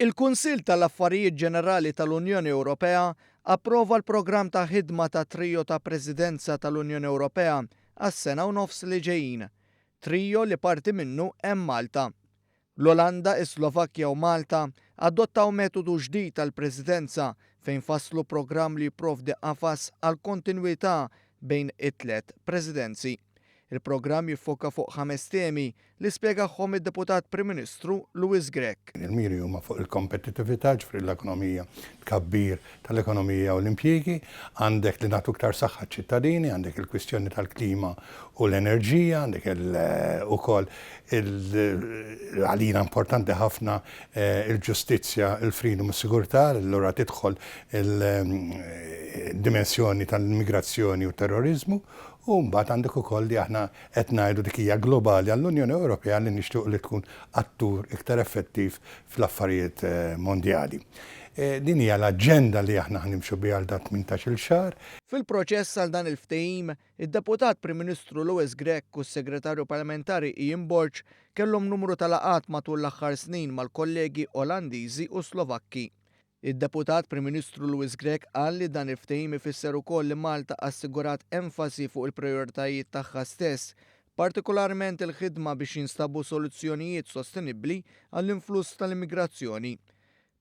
Il-Kunsill tal-Affarijiet Ġenerali tal-Unjoni Ewropea approva l-programm ta' ħidma tat-Trio ta' Presidenza tal-Unjoni Ewropea għas-sena u nofs li ġejjin, trio li parti minnu hemm Malta. L-Olanda, is-Slovakkja u Malta adottaw metodu ġdid għall-Presidenza fejn fasslu programm li jipprovdi qafas għall-kontinwità bejn it-tliet Presidenzi. Il-programm jiffoka fuq ħames temi li spjegahom id-Deputat Prim Ministru Louis Grech. Il-miri huma fuq il-kompetittività, jiġifieri l-ekonomija, tkabbir tal-ekonomija u l-impjiegi, għandek li nagħtu iktar saħħa ċ-ċittadini, għandek il-kwistjoni tal-klima u l-enerġija, għandek ukoll għalina importanti ħafna il-ġustizzja, il-freedom u s-sigurtà, allura tidħol il-dimensjoni tal-immigrazzjoni u t-terroriżmu u mbagħad għandek ukoll li aħna Qed ngħidu dik hija globali għall-Unjoni Ewropea li nixtiequ li tkun attur iktar effettiv fl-affarijiet mondjali. Din hija l-aġenda li aħna ħa nimxu biha għal dan tmintax-il xahar. Fil-proċess għal dan il-ftehim, id-Deputat Prim Ministru Louis Grech u s-Segretarju Parlamentari Ian Borg kellhom numru ta' laqgħat matul l-aħħar snin mal-kollegi Olandiżi u Slovakki. Id-Deputat Prim Ministru Louis Grech qal li dan il-ftehim ifisser ukoll li Malta assigurat enfasi fuq il-prijoritajiet tagħha stess, partikolarment il-ħidma biex jinstabu soluzzjonijiet sostenibbli għall-influss tal-immigrazzjoni.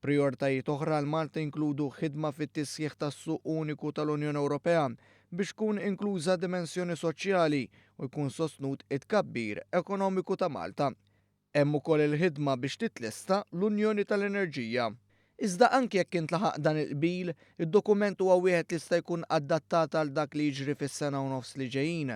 Prijoritajiet oħra għal Malta jinkludu ħidma fit-tisħiħ tas-Suq Uniku tal-Unjoni Ewropea biex tkun inkluża d-dimensjoni soċjali u jkun sostnut it-tkabbir ekonomiku ta' Malta. Hemm ukoll il-ħidma biex titlesta l-Unjoni tal-Enerġija. Iżda anki jekk intlaħaq dan il-qbil, id-dokument huwa wieħed li jista' jkun adattat għal dak li jiġri fis-sena u nofs li ġejjin.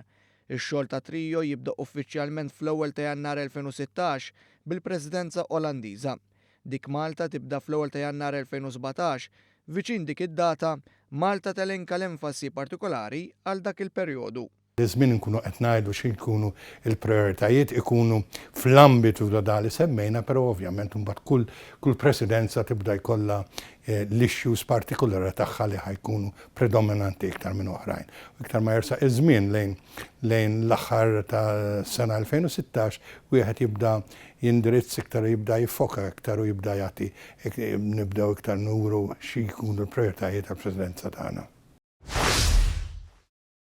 Ix-xogħol ta' Trio jibda uffiċjalment fl-ewwel ta' Jannar 2016 bil-Presidenza Olandiża. Dik Malta tibda fl-ewwel ta' Jannar 2017. Viċin dik id-data, Malta telenka l-enfasi partikolari għal dak il-perjodu. Iż-żmien inkunu qed ngħidu xi jkunu l-prijoritajiet ikunu fl-ambitu ta' dak li semmejna, però ovvjament imbagħad kull kull presidenza tibda jkollha l-issues partikulari tagħha li ħa jkunu predominanti iktar minn oħrajn. U iktar ma jersaq iż-żmien lejn lejn l-aħħar tas-sena 2016 wieħed jibda jindirizz iktar u jibda jiffoka iktar u jibda jagħti nibdew iktar nuru xi jkunu l-prijoritajiet tal-presidenza tagħna.